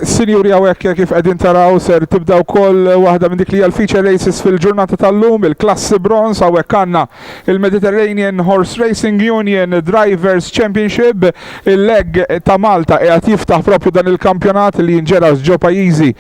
Sinjuri hawnhekk kif qegħdin taraw ser tibda wkoll waħda minn dik li hija l-feature races fil-ġurnata tal-lum, il-klassi bronz hawnhekk għandna il-Mediterranean Horse Racing Union Drivers Championship, il-leg ta' Malta qiegħed jiftaħ propju dan il-kampjonat li jinġera' ġo pajjiżi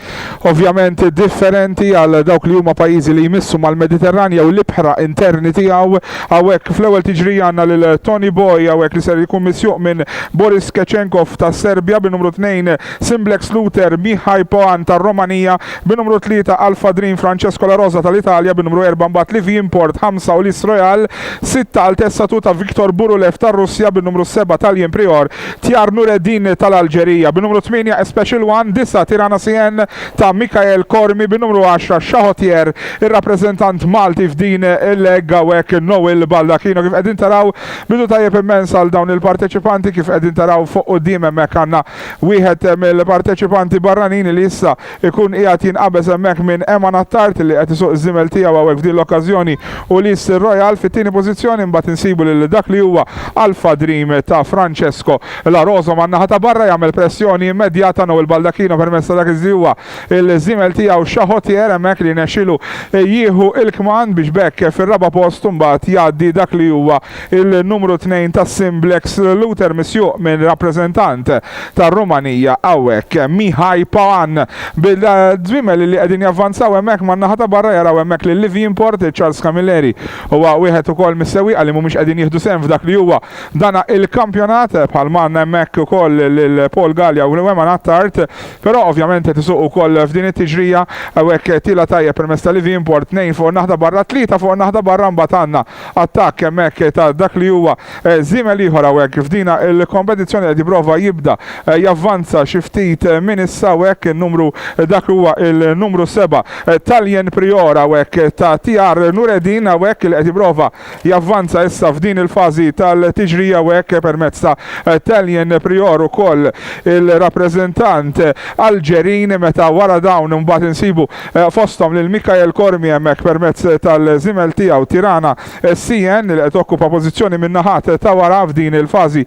ovvjament differenti għal dawk li huma pajjiżi li jmissu mal-Mediterran jew l-ibħra interni tiegħu. Hawnhekk fl-ewwel tiġrija għandna lil Toni Boy hawnhekk li ser ikun misjuq minn Boris Kecenkov tas-Serbja, bin-numru 2 Simblex Luter Mihai Poan tar-Romanija, bin-numru 3 Alpha Dream Francesco La Rosa tal-Italja, bin-numru 4 mbagħad Livi Import, 5 Ulysse Royal, 6 Altezza Tuta Victor Burulev tar-Russja, bin-numru 7 Talien Prior Tjar Noureddin tal-Alġerija bi numru tmienja Especial One, disa' Tirana CN ta' Mikael Cormi bi numru għaxra Chahotier, ir-rappreżentant Malti f'din il-leg hawnhekk Noel Baldacchino. Kif qegħdin taraw bidu tajjeb immens għal dawn il-parteċipanti, kif qegħdin taraw fuq quddiem hemmhekk għandna wieħed mill-parteċipanti barranin li issa ikun qiegħed jinqabeż hemmhekk minn Eman Attard li qed isuq iż-żiemel tiegħu hawnhekk f'din l-okkażjoni u Liz Royal fit-tieni pożizzjoni imbagħad insibu lil dak li huwa Alpha Dream ta' Francesco La Rosa man-naħa ta' barra jagħmel pressjoni immedjata Noel Baldacchino permezz ta' dak li huwa l-żiemel tiegħu Chahotier hemmhekk li rnexxielu jieħu l-kmand biex b'hekk fir-raba' post imbagħad jgħaddi dak li huwa il-numru tnejn tas-Sim Black Salute misjuq minn rappreżentant tar-Rumanija hawnhekk, Mihai Paun. Bil-żwiemel li qegħdin javvanzaw hemmhekk man-naħa ta' barra jaraw hemmhekk lil Livi Import, Charles Camilleri huwa wieħed ukoll mis-sewwieqa li mhumiex qegħdin jieħdu sehem f'dak li huwa dan il-kampjonat, bħal ma għandna hemmhekk ukoll lil Paul Galea u lil Wehman Attard, però ovvjament qed isuq ukoll f'din it-tiġrija, hawnhekk tiela' tajjeb permezz ta' Livi Import, tnejn fuq in-naħa ta' barra, tlieta fuq in-naħa ta' barra mbagħad għandna. attakk hemmhekk ta' dak li huwa żiemel ieħor hawnhekk f'dina l-kompetizzjoni qed jipprova jibda javvanza xi ftit minn issa hawnhekk in-numru dak li huwa l-numru seba' Taljen Prior hawnhekk ta' TR Nureddin hawnhekk li qed jipprova javvanza issa f'din il-fażi tal-tiġrija hawnhekk permezz ta' Taljen Prior ukoll il-rappreżentant Alġerin meta wara dawn imbagħad insibu fosthom lil Michael Cormier hemmhekk permezz tal-żiemel tiegħu Tirana CN li qed tokkupa pożizzjoni min-naħat ta' wara f'din il-fażi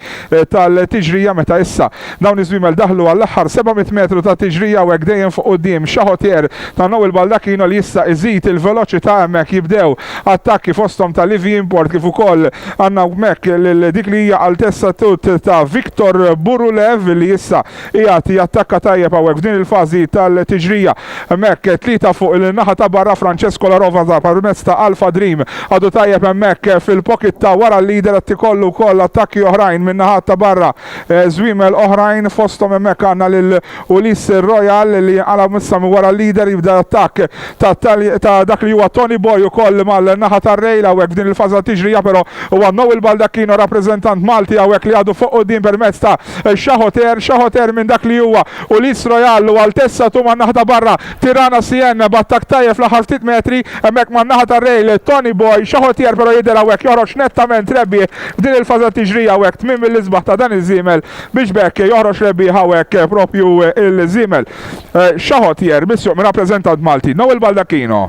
tal-tiġrija meta issa dawn iż-żwiemel daħlu għall-aħħar 700 metru ta' tiġrija u hekk dejjem fuq quddiem Chahotier ta' Noel Baldacchino li issa iżid il-veloċità hemmhekk jibdew attakki fosthom ta' Livi Import kif ukoll għandna hemmhekk lil dik li hija Altezza Tut ta' Victor Burulev li issa qiegħed jattakka tajjeb hawnhekk f'din il-fażi tal-tiġrija. Hemmhekk tlieta fuq il-naħa ta' barra Francesco La Rosa permezz ta' Alpha Dream għadu tajjeb hemmhekk fil-pocket ta' wara l-leader qed ikollu wkoll attakki oħrajn min-naħat ta' barra żwiemel oħrajn fosthom hemmhekk għandna lil Ulysse Royal li jinqala' issa minn wara l-leader jibda l-attakk ta' dak li huwa Tony Boy ukoll mal-naħa tar-rail hawnhekk f'din il-fażi tat-tiġrija però huwa Noel Baldacchino rappreżentant Malti hawnhekk li għadu fuq quddiem permezz ta' Xaħoter, xaħoter minn dak li huwa u li Strojallu għal tessa tu man-naħa ta' barra. Tirana Sien b'attakk tajjeb fl-aħħar ftit metri hemmhekk man-naħa tar-rejl. Toni Boy, xaħotier però jidher hawnhekk joħroġ nettament rebbieħ f'din il-fażi tat-tiġrija hawnhekk. Tmiem mill-isbaħ ta' dan iż-żiemel biex b'hekk joħroġ rebbieħ hawnhekk proprju l-żiemel. Xaħotier misjuq minn rappreżentant Malti, Noel Baldacchino.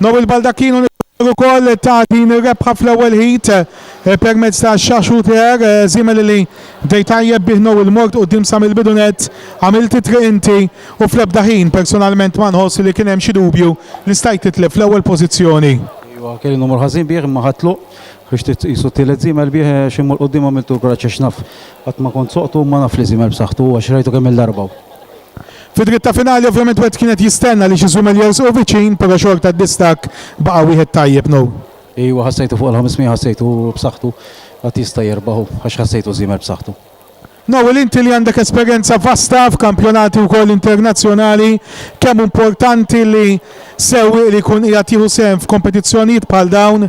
Noel Baldacchino niftakar ukoll ta' din ir-rebħa fl-ewwel ħid eh, permezz ta' xaxuter eh, żiemel li bdej tajjeb bih Noel mort quddiem sa mill-bidu nett, għamilt it-triq inti u fl-ebda ħin personalment ma nħoss li kien hemm xi dubju li stajt titlef fl-ewwel pożizzjoni. Iva, kelli numru ħażin bih imma ħatlu biex titqisu t-tielet zimel bih eh, xi mur quddiem għamiltu l-kuraġġ għax naf qatt ma kont soqtu ma naf li zimel b'saħħtu għax rajtu kemm il-darba. Fid-dritta finali ovvjament wieħed kien qed jistenna li xi żwimeljers u viċin però xorta d-distakk baqa' wieħed tajjeb, No. Ejwa ħassejtu fuq il-500 ħassejtu b'saħħtu qatt jista' jerbaħ u għax ħassejtu żiemel b'saħħtu. No, il inti li għandek esperjenza vasta f'kampjonati wkoll internazzjonali kemm hu importanti li sewwieq li jkun qiegħed jieħu sehem f'kompetizzjonijiet bħal dawn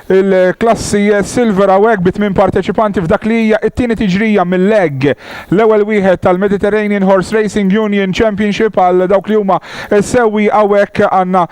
Il-klassi Silver hawnhekk bi tmien parteċipanti f'dak li hija t-tieni tiġrija mil-leg l-ewwel wieħed tal-Mediterranean Horse Racing Union Championship għal dawk li huma s-sewwieqa hawnhekk għandna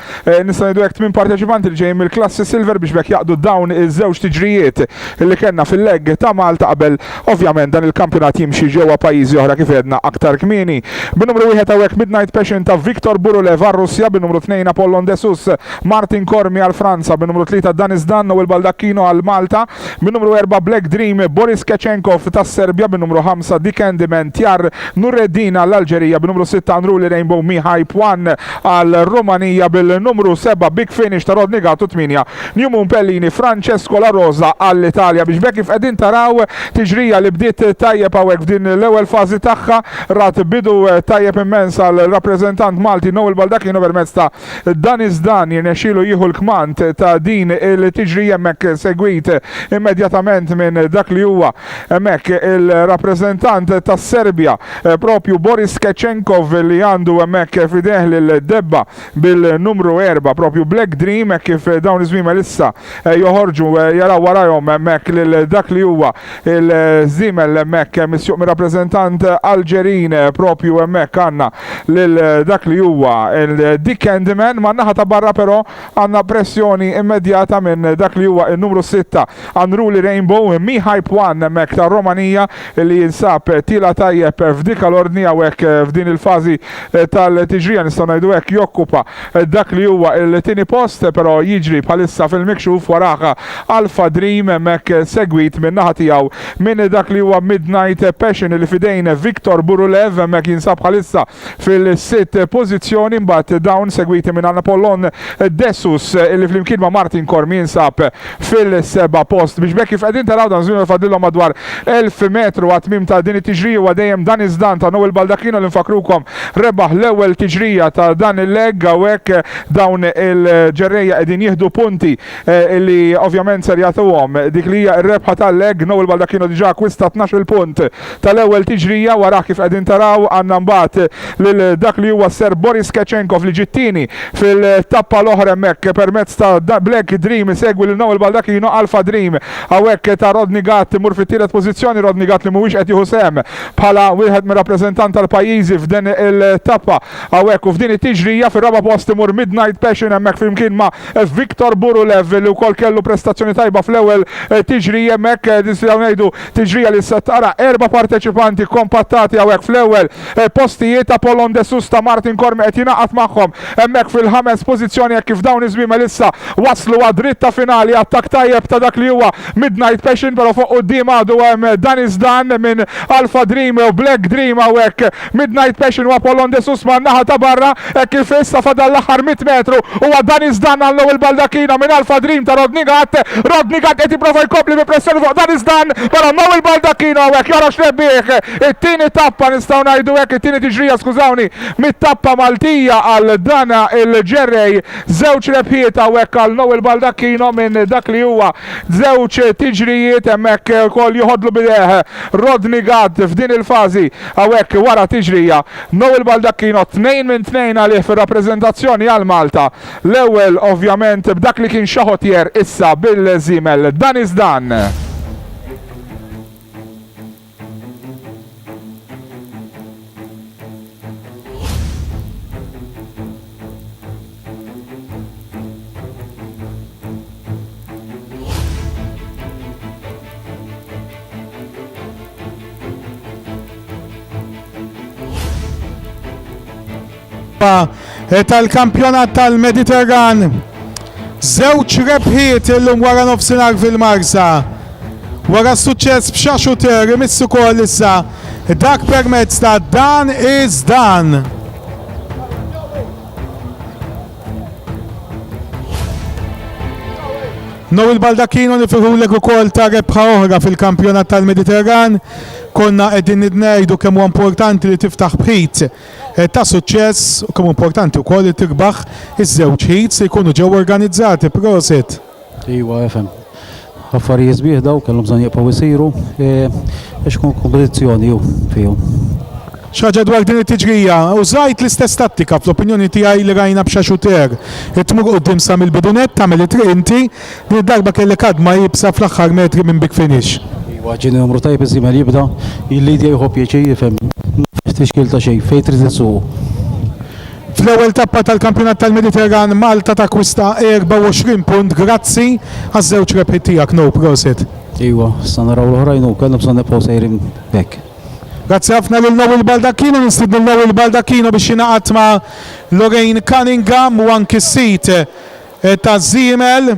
nistgħu ngħidu hekk tmien parteċipanti li ġejjin mill-klassi Silver biex b'hekk jaqdu dawn iż-żewġ tiġrijiet li kellna fil-leg ta' Malta qabel ovvjament dan il-kampjonat jimxi ġewwa pajjiżi oħra kif għedna aktar kmieni. Bin-numru wieħed hawnhekk Midnight Passion ta' Victor Burulev għar-Russja, bin-numru tnejn Apollon Desus Martin Cormi għal Franza bin-numru tlieta Danis Danno il Baldacchino għal Malta bin-numru erba' Black Dream Boris Kechenkov tas-Serbja bin-numru ħamsa The Candyman Tjar Nureddin għall-Alġerija bin-numru sitta Unruly Rainbow Mihai Pwan għar-Rumanija bil-numru seba' Big Finish ta' Rodney Gatto tmienja New Moon Pellini Francesco La Rosa għall-Italja biex b'hekk kif qegħdin taraw tiġrija li bdiet tajjeb hawnhekk f'din l-ewwel fażi tagħha rat bidu tajjeb immens għal rappreżentant Malti Noel Baldacchino permezz ta' Dan iż-żdan jirnexxielu jieħu l-kmand ta' din il-tiġrija hemmhekk segwit immedjatament minn dak li huwa hemmhekk il-rappreżentant tas-Serbja propju Boris Kecenkov li għandu hemmhekk f'idejh lil debba bil-numru erba' propju Black Dream hekk kif dawn iż-żwiemel issa joħorġu jaraw warajhom hemmhekk lil dak li huwa il-żiemel hemmhekk hemm is-suq mir-rappreżentant Alġerin propju hemmhekk għandna lil dak li huwa Dick Candyman man-naħa ta' barra però għandna pressjoni immedjata minn dak li huwa n-numru sitta Unruly Rainbow Mihype One hemmhekk tar-Romanija li jinsab tiela' tajjeb f'dika l-ordni hawnhekk f'din il-fażi tal-tiġrija nistgħu ngħidu hekk jokkupa Dak li huwa il-tieni post però jiġri bħalissa fil-mikxuf warah Alpha Dream hemmhekk segwit min-naħa tiegħu minn dak li huwa Midnight Passion li f'idejn Victor Burulev hemmhekk jinsab bħalissa fil-sitt pożizzjoni mbagħad dawn segwiti minn Anapolon Dessus li flimkien ma' Martin Corm jinsab fil-seba' post. Biex b'hekk kif qegħdin taraw dan żmien fadlilhom madwar 1000 metru għat-tmiem ta' din it-tiġrija huwa dejjem dan iż-żdan ta' Noel Baldacchino li nfakkrukom rebaħ l-ewwel tiġrija ta' dan il-leg hawnhekk dawn il-ġerrejja qegħdin jieħdu punti li ovvjament ser jagħtuhom dik li hija r-rebħa tal-leg Noel Baldacchino diġà akkwista tnax-il punt tal-ewwel tiġrija wara kif qegħdin taraw għandna mbagħad lil dak li huwa s-Serb Boris Kecenkov li ġie t-tieni fil-tappa l-oħra hemmhekk permezz ta' Black Dream isegwi lil Noel Baldacchino Alpha Dream hawnhekk ta' Rodney Gatt imur fit-tielet pożizzjoni Rodney Gatt li mhuwiex qed jieħu sehem bħala wieħed mir-rappreżentant tal-pajjiżi f'din il-tappa hawnhekk u f'din it-tiġrija fir-raba' post imur Midnight Passion hemmhekk flimkien ma' Viktor Burulev li wkoll kellu prestazzjoni tajba fl-ewwel tiġrija hemmhekk nistgħu ngħidu Tiġrija li se tara erba' parteċipanti kkompattati hawnhekk fl-ewwel postijiet. Apollon De Sousta, Martin Cormi qed jingħaqad magħhom hemmhekk fil-ħames pożizzjoni hekk kif dawn iż-żwiemel issa waslu għad-dritta finali. Attakk tajjeb ta' dak li huwa Midnight Passion, però fuq quddiem għadu hemm Danny Zdan minn Alpha Dream u Black Dream hawnhekk Midnight Passion u Apollon De Susman naħa ta' barra hekk kif issa fadal l-aħħar mitt metru huwa Dani Zdan għal Noel Baldacchino minn Alpha Dream ta' Rodney Gatt. Rodney Gatt qed jipprova jkompli bi pressjoni fuq Dani Zdan però Noel Baldacchino hawnhekk joħroġ rebbieħ it-tieni tappa nistgħu ngħidu hekk, it-tieni tiġrija skużawni, mit-tappa Maltija għal dan il-ġerrej. Żewġ rebħiet hawnhekk għal Noel Baldacchino minn dak li huwa żewġ tiġrijiet hemmhekk ukoll joħodlu b'idejh Rodney Gatt f'din il-fażi. Hawnhekk wara tiġrija, Noel Baldacchino tnejn minn tnejn għalih fir-rappreżentazzjoni għal Malta. L-ewwel ovvjament b'dak li kien xaħottier issa bil-żiemel Dan is Dan. Eh, tal-kampjonat tal-Mediterran. Żewġ rebħiet illum wara nofsinhar fil-Marsa. Wara suċċess b'xaxu ter imissu kol issa dak permezz ta' dan iż dan. Noel Baldacchino nifirħulek ukoll ta' rebħa oħra fil-kampjonat tal-Mediterran. Konna qegħdin nidnejdu kemm huwa importanti li tiftaħ bħit eh, ta' suċċess u kemm importanti wkoll li tirbaħ iż-żewġ ħid se jkunu ġew organizzati prosit. Iwa efem. Affarijiet sbieħ daw kellhom bżonn jibqgħu jsiru e, għax kun kompetizzjoni hu fihom. Xaġa dwar din it-tiġrija, użajt l-istess tattika fl-opinjoni tiegħi li rajna b'xa xuter. Irid tmur quddiem sa mill-bidu nett, tagħmel it-triq inti, din id-darba kellek għadma iebsa fl-aħħar metri minn big finish. Iwa, ġieni numru tajjeb iż-żiemel jibda jillidja jieħu pjaċir, ifhem, ma fiex tixkil ta' xejn, fejn trid insuqu. Fl-ewwel tappa tal-Kampjonat tal-Mediterran Malta takkwista 24 punt grazzi għaż-żewġ rebħiet tiegħek no prosit. Iwa, sa naraw l-oħrajn u kellhom sa nibqgħu sejrin hekk. Grazzi ħafna lil Noel Baldacchino, nistidnu Noel Baldacchino biex jingħaqad ma' Lorraine Cunningham u anki sit eh, ta' Zimel.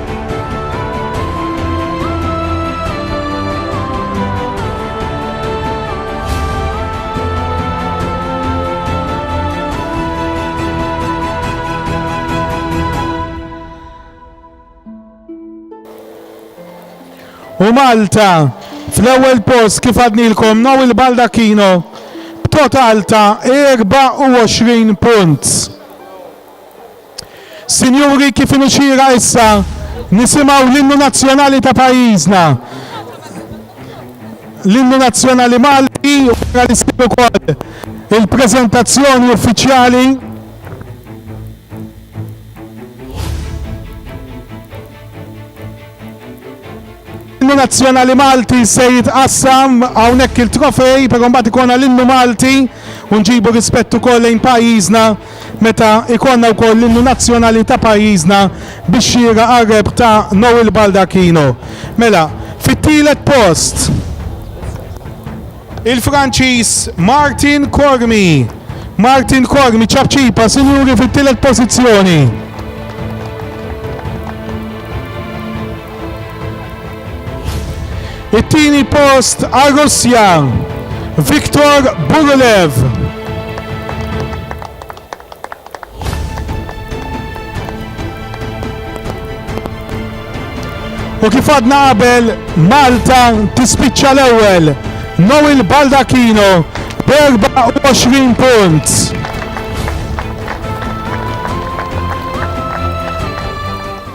U Malta fl-ewwel post kif għadnilkom naw il-Baldacchino b'total ta' 24 punt. Sinjuri, kif inhu xieraq issa nisimgħu l-Innu Nazzjonali ta' pajjiżna, l-Innu Nazzjonali Malti, u wara li ssir ukoll il-preżentazzjoni uffiċjali. L-innu nazzjonali Malti se jitqassam hawnhekk il-trofej, però mbagħad ikonna l-innu Malti u nġibu rispett ukoll lejn pajjiżna meta ikonna wkoll l-innu nazzjonali ta' pajjiżna biex xira qarreb ta' Noel Baldacchino. Mela, fit-tielet post. Il-Franċiż Martin Cormi. Martin Cormi ċapċipa sinjuri fit-tielet pożizzjoni. It-tieni post għar-Russja, Viktor Burulev. U kif għadna qabel Malta tispiċċa l-ewwel Noel Baldacchino b' 24 punt.